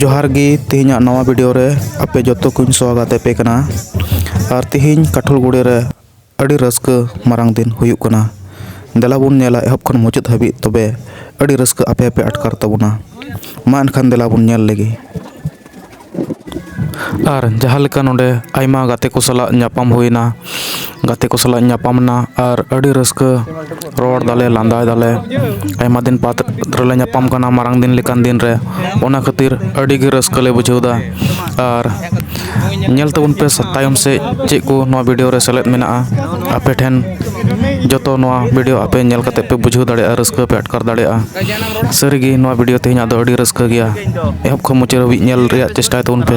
ᱡᱚᱦᱟᱨ ᱜᱮ ᱛᱮᱦᱮᱧᱟᱜ ᱱᱟᱣᱟ ᱵᱷᱤᱰᱤᱭᱳ ᱨᱮ ᱟᱯᱮ ᱡᱚᱛᱚ ᱠᱚᱧ ᱥᱚᱦᱚᱜᱟᱛ ᱟᱯᱮ ᱠᱟᱱᱟ ᱟᱨ ᱛᱮᱦᱮᱧ ᱠᱟᱴᱷᱚᱞ ᱜᱩᱲᱤ ᱨᱮ ᱟᱹᱰᱤ ᱨᱟᱹᱥᱠᱟᱹ ᱢᱟᱨᱟᱝ ᱫᱤᱱ ᱦᱩᱭᱩᱜ ᱠᱟᱱᱟ ᱫᱮᱞᱟ ᱵᱚᱱ ᱧᱮᱞᱟ ᱮᱦᱚᱵ ᱠᱷᱚᱱ ᱢᱩᱪᱟᱹᱫ ᱦᱟᱹᱵᱤᱡ ᱛᱚᱵᱮ ᱟᱹᱰᱤ ᱨᱟᱹᱥᱠᱟᱹ ᱟᱯᱮ ᱦᱚᱸᱯᱮ ᱟᱴᱠᱟᱨ ᱛᱟᱵᱚᱱᱟ ᱢᱟ ᱮᱱᱠᱷᱟᱱ ᱫᱮᱞᱟ ᱵᱚᱱ ᱧᱮᱞ ᱞᱮᱜᱮ ᱟᱨ ᱡᱟᱦᱟᱸ ᱞᱮᱠᱟ ᱱᱚᱰᱮ ᱟᱭᱢᱟ ᱜᱟᱛᱮ ᱠᱚ ᱥᱟᱞᱟᱜ ᱧᱟᱯᱟᱢ ᱦᱩᱭᱱᱟ ᱜᱟᱛᱮ ᱠᱚ ᱥᱟᱞᱟᱜ ᱤᱧ ᱧᱟᱯᱟᱢ ᱮᱱᱟ ᱟᱨ ᱟᱹᱰᱤ ᱨᱟᱹᱥᱠᱟᱹ ᱨᱚᱲ ᱫᱟᱞᱮ ᱞᱟᱸᱫᱟᱭ ᱫᱟᱞᱮ ᱟᱭᱢᱟ ᱫᱤᱱ ᱵᱟᱫᱽ ᱨᱮᱞᱮ ᱧᱟᱯᱟᱢ ᱠᱟᱱᱟ ᱢᱟᱨᱟᱝ ᱫᱤᱱ ᱞᱮᱠᱟᱱ ᱫᱤᱱ ᱨᱮ ᱚᱱᱟ ᱠᱷᱟᱹᱛᱤᱨ ᱟᱹᱰᱤ ᱜᱮ ᱨᱟᱹᱥᱠᱟᱹ ᱞᱮ ᱵᱩᱡᱷᱟᱹᱣ ᱮᱫᱟ ᱟᱨ ᱧᱮᱞ ᱛᱟᱵᱚᱱ ᱯᱮ ᱛᱟᱭᱚᱢ ᱥᱮᱫ ᱪᱮᱫ ᱠᱚ ᱱᱚᱣᱟ ᱵᱷᱤᱰᱭᱳ ᱨᱮ ᱥᱮᱞᱮᱫ ᱢᱮᱱᱟᱜᱼᱟ ᱟᱯᱮ ᱴᱷᱮᱱ ᱡᱚᱛᱚ ᱱᱚᱣᱟ ᱵᱷᱤᱰᱭᱳ ᱟᱯᱮ ᱧᱮᱞ ᱠᱟᱛᱮᱫ ᱯᱮ ᱵᱩᱡᱷᱟᱹᱣ ᱫᱟᱲᱮᱭᱟᱜᱼᱟ ᱨᱟᱹᱥᱠᱟᱹ ᱯᱮ ᱟᱴᱠᱟᱨ ᱫᱟᱲᱮᱭᱟᱜᱼᱟ ᱥᱟᱹᱨᱤᱜᱮ ᱱᱚᱣᱟ ᱵᱷᱤᱰᱭᱳ ᱛᱮᱦᱮᱧᱟᱜ ᱫᱚ ᱟᱹᱰᱤ ᱨᱟᱹᱥᱠᱟᱹ ᱜᱮᱭᱟ ᱮᱦᱚᱵ ᱠᱷᱚᱱ ᱢᱩᱪᱟᱹᱫ ᱦᱟᱹᱵᱤᱡ ᱧᱮᱞ ᱨᱮᱭᱟᱜ ᱪᱮᱥᱴᱟᱭ ᱛᱟᱵᱚᱱ ᱯᱮ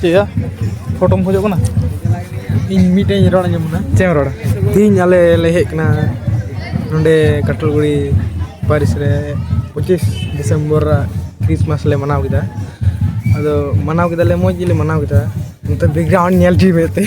ᱪᱮᱫᱭᱟ ᱯᱷᱳᱴᱳᱢ ᱠᱷᱚᱡᱚᱜ ᱠᱟᱱᱟ ᱤᱧ ᱢᱤᱫᱴᱮᱱ ᱤᱧ ᱨᱚᱲ ᱟᱸᱡᱚᱢ ᱠᱟᱱᱟ ᱪᱮᱫ ᱮᱢ ᱨᱚᱲᱟ ᱛᱮᱦᱮᱧ ᱟᱞᱮ ᱞᱮ ᱦᱮᱡ ᱠᱟᱱᱟ ᱱᱚᱰᱮ ᱠᱟᱴᱚᱞᱜᱩᱲᱤ ᱯᱟᱹᱨᱤᱥ ᱨᱮ ᱯᱚᱸᱪᱤᱥ ᱰᱤᱥᱮᱢᱵᱚᱨ ᱠᱨᱤᱥᱢᱟᱥ ᱞᱮ ᱢᱟᱱᱟᱣ ᱠᱮᱫᱟ ᱟᱫᱚ ᱢᱟᱱᱟᱣ ᱠᱮᱫᱟᱞᱮ ᱢᱚᱡᱽ ᱜᱮᱞᱮ ᱢᱟᱱᱟᱣ ᱠᱮᱫᱟ ᱱᱤᱛᱚᱜ ᱵᱮᱠᱜᱨᱟᱣᱩᱱᱰ ᱧᱮᱞ ᱦᱚᱪᱚᱭ ᱢᱮ ᱮᱱᱛᱮᱫ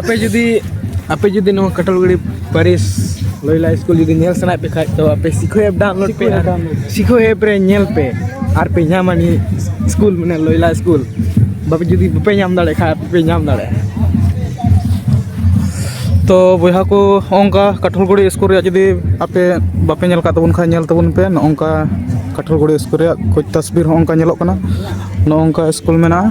ᱟᱯᱮ ᱡᱩᱫᱤ ᱟᱯᱮ ᱡᱩᱫᱤ ᱱᱚᱣᱟ ᱠᱟᱴᱚᱞᱜᱟᱹᱲᱤ ᱯᱟᱹᱨᱤᱥ ᱞᱚᱭᱞᱟ ᱥᱠᱩᱞ ᱡᱩᱫᱤ ᱧᱮᱞ ᱥᱟᱱᱟᱭᱮᱫ ᱯᱮ ᱠᱷᱟᱡ ᱛᱚ ᱟᱯᱮ ᱥᱤᱠᱷᱚ ᱮᱯ ᱰᱟᱣᱩᱱᱞᱳᱰ ᱯᱮ ᱟᱨ ᱥᱤᱠᱷᱚ ᱮᱯ ᱨᱮ ᱧᱮᱞ ᱯᱮ ᱟᱨ ᱯᱮ ᱧᱟᱢᱟ ᱱᱤᱭᱟᱹ ᱥᱠᱩᱞ ᱢᱟᱱᱮ ᱞᱚᱭᱞᱟ ᱥᱠᱩᱞ ᱵᱟᱯᱮ ᱡᱩᱫᱤ ᱵᱟᱯᱮ ᱧᱟᱢ ᱫᱟᱲᱮᱭᱟᱜ ᱠᱷᱟᱡ ᱟᱯᱮ ᱯᱮ ᱧᱟᱢ ᱫᱟᱲᱮᱭᱟᱜᱼᱟ ᱛᱚ ᱵᱚᱭᱦᱟ ᱠᱚ ᱱᱚᱝᱠᱟ ᱠᱟᱴᱚᱞᱜᱟᱹᱲᱤ ᱥᱠᱩᱞ ᱨᱮᱭᱟᱜ ᱡᱩᱫᱤ ᱟᱯᱮ ᱵᱟᱯᱮ ᱧᱮᱞ ᱠᱟᱜ ᱛᱟᱵᱚᱱ ᱠᱷᱟᱡ ᱧᱮᱞ ᱛᱟᱵᱚᱱ ᱯᱮ ᱱᱚᱜᱼᱚ ᱱᱚᱝᱠᱟ ᱠᱟᱴᱚᱞᱜᱟᱹᱲᱤ ᱥᱠᱩᱞ ᱨᱮᱭᱟᱜ ᱠᱩᱪ ᱛᱚᱥᱵᱤᱨ ᱦᱚᱸ ᱚᱱᱠᱟ ᱧᱮᱞᱚᱜ ᱠᱟᱱᱟ ᱱᱚᱜᱼᱚ ᱱᱚᱝᱠᱟ ᱥᱠᱩᱞ ᱢᱮᱱᱟᱜᱼᱟ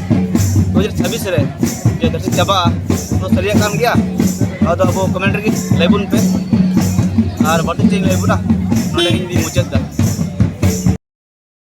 ᱫᱩ ᱦᱟᱡᱟᱨ ᱪᱷᱟᱵᱵᱤᱥ ᱨᱮ ᱡᱮ ᱫᱟᱹᱨᱥᱤ ᱪᱟᱵᱟᱜᱼᱟ ᱚᱱᱟ ᱥᱟᱹᱨᱤᱭᱟᱜ ᱠᱟᱱ ᱜᱮᱭᱟ ᱟᱫᱚ ᱟᱵᱚ ᱠᱚᱢᱮᱱᱴ ᱨᱮᱜᱮ ᱞᱟᱹᱭ ᱵᱚᱱ ᱯᱮ ᱟᱨ ᱵᱟᱹᱲᱛᱤ ᱪᱮᱫ ᱤᱧ ᱞᱟᱹᱭ ᱵᱚᱱᱟ ᱱᱚᱰᱮ ᱤᱧ ᱢᱩᱪᱟᱹᱫ ᱮᱫᱟ